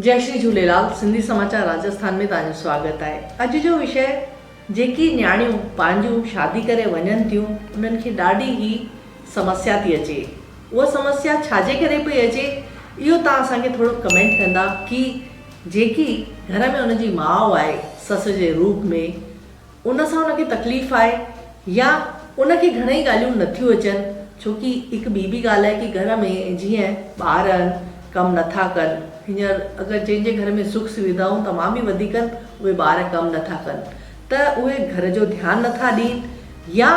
جئي شري جهوليلال سنڌي سماچار راجسٿان ۾ توهانجو سواگت آهي اڄ جو وشيه جيڪي نياڻيون پنهنجون شادي ڪري وڃن ٿيون انهن کي ڏاڍي هي سمسيا ٿي اچي اها سمسيا ڇاجي ڪري پئي اچي اهو توهان اسان کي ٿورو ڪمينٽ ڪندا ڪي جيڪي گهر ۾ ان جي ماء آهي سس جي روپ ۾ ان سان ان کي تڪليف آهي يا ان کي گهڻئي ڳالهيون نٿيون اچن ڇو ڪي هڪ ٻي به ڳالهه آهي ڪي گهر ۾ جيئن ٻار آهن ڪم نٿا ڪن هينئر اگر جنهن جي گهر ۾ سک سويڌائون تمام به وڌيڪ آهن اهي ٻار ڪم نٿا ڪن ته اهي گهر جو ڌيان نٿا ڏين يا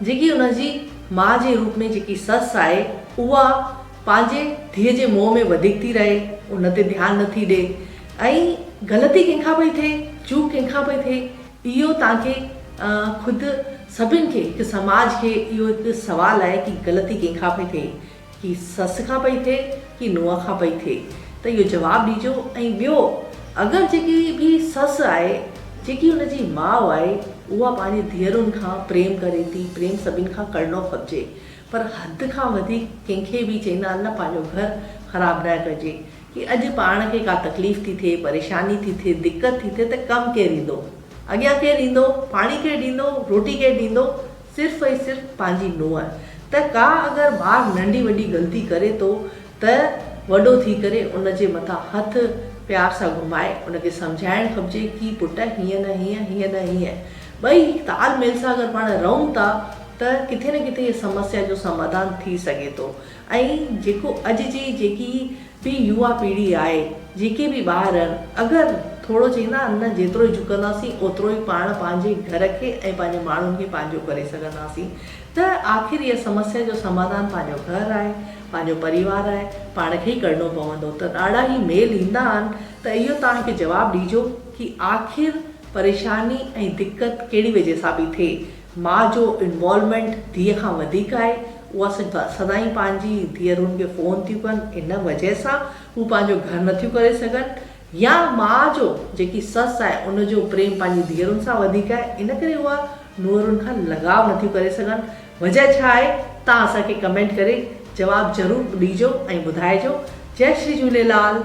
جيڪي ان جي ماء جي روپ ۾ جيڪي سس آهي اها پنهنجي ڌيء جي موهه ۾ وڌيڪ ٿي رهي ان تي ڌيان نٿي ڏي ۽ غلطي ڪنهن کان پئي ٿئي چوڪ ڪنهن کان پئي ٿئي اهو توهان کي خود سڀن کي هڪ سماج کي اهو هڪ سوال آهي ڪي غلطي ڪنهن کان پئي ٿئي ڪي سس کان پئي ٿئي ڪي نونهن کان پئي ٿئي ته اهو جواب ڏيجو ۽ ٻيو اگر جيڪي به سس آهي جيڪي ان جي ماء آهي اها پنهنجي ڌيئرن کان پريم ڪري ٿي پريم سڀن کان ڪرڻو کپجي پر حد کان وڌيڪ ڪنهن کي به چئيندا نه پنهنجو گهر خراب نه ڪجي ڪي اڄ پاڻ کي ڪا تڪليف ٿي ٿئي، پريشاني ٿي ٿئي، دقت ٿي ٿئي ته ڪم ڪير ايندو؟ اڳيان ڪير ايندو؟ پاڻي ڪير ڏيندو؟ روٽي ڪير ڏيندو؟ صرف ۽ صرف پنهنجي نونهن. ته ڪا اگر ٻار ننڍي وڏي غلطي ڪري ٿو ته وڏو ٿي ڪري ان جي مٿان هٿ پيار سان گهمائي ان کي سمجهائڻ کپجي ڪي پٽ هيئن نه هيئن هيئن نه هيئن ٻئي تال ميل سان اگر پاڻ رهون ٿا ته ڪٿي نه ڪٿي هي سمسيا جو سمادان ٿي سگهي ٿو ۽ جيڪو اڄ جي جيڪي به يوا پيڙهي آهي، جيڪي به ٻار آهن، اگر ٿورو چئيندا آهن نه جيترو جهڪنداسين اوترو ئي پاڻ پنهنجي گهر کي ۽ پنهنجي ماڻهن کي پنهنجو ڪري سگهنداسين ته آخر اها سمسيا جو سماڌان پنهنجو گهر آهي، پنهنجو پريوار آهي، پاڻ کي ئي ڪرڻو پوندو ته ڏاڍا ئي ميل ايندا آهن ته اهو توهان کي جواب ڏجو ڪي آخر پريشاني ۽ دقت ڪهڙي وجهه سان پئي ٿئي. ماء جو انوالومينٽ ڌيء کان وڌيڪ آهي اها سدائين پنهنجي ڌيئرن کي فون ٿيون ڪن ان وجه سان هو پنهنجو گهر نٿيون ڪري سگهن يا ماء جو جيڪي سس آهي ان جو پريم پنهنجي ڌيئرن سان وڌيڪ آهي ان ڪري اها نوهرن کان لڳاء نٿيون ڪري سگهن وجه ڇا آهي تان اسان کي ڪمينٽ ڪري جواب ضرور ڏيجو ۽ ٻڌائجو جئي شري جهوليلال.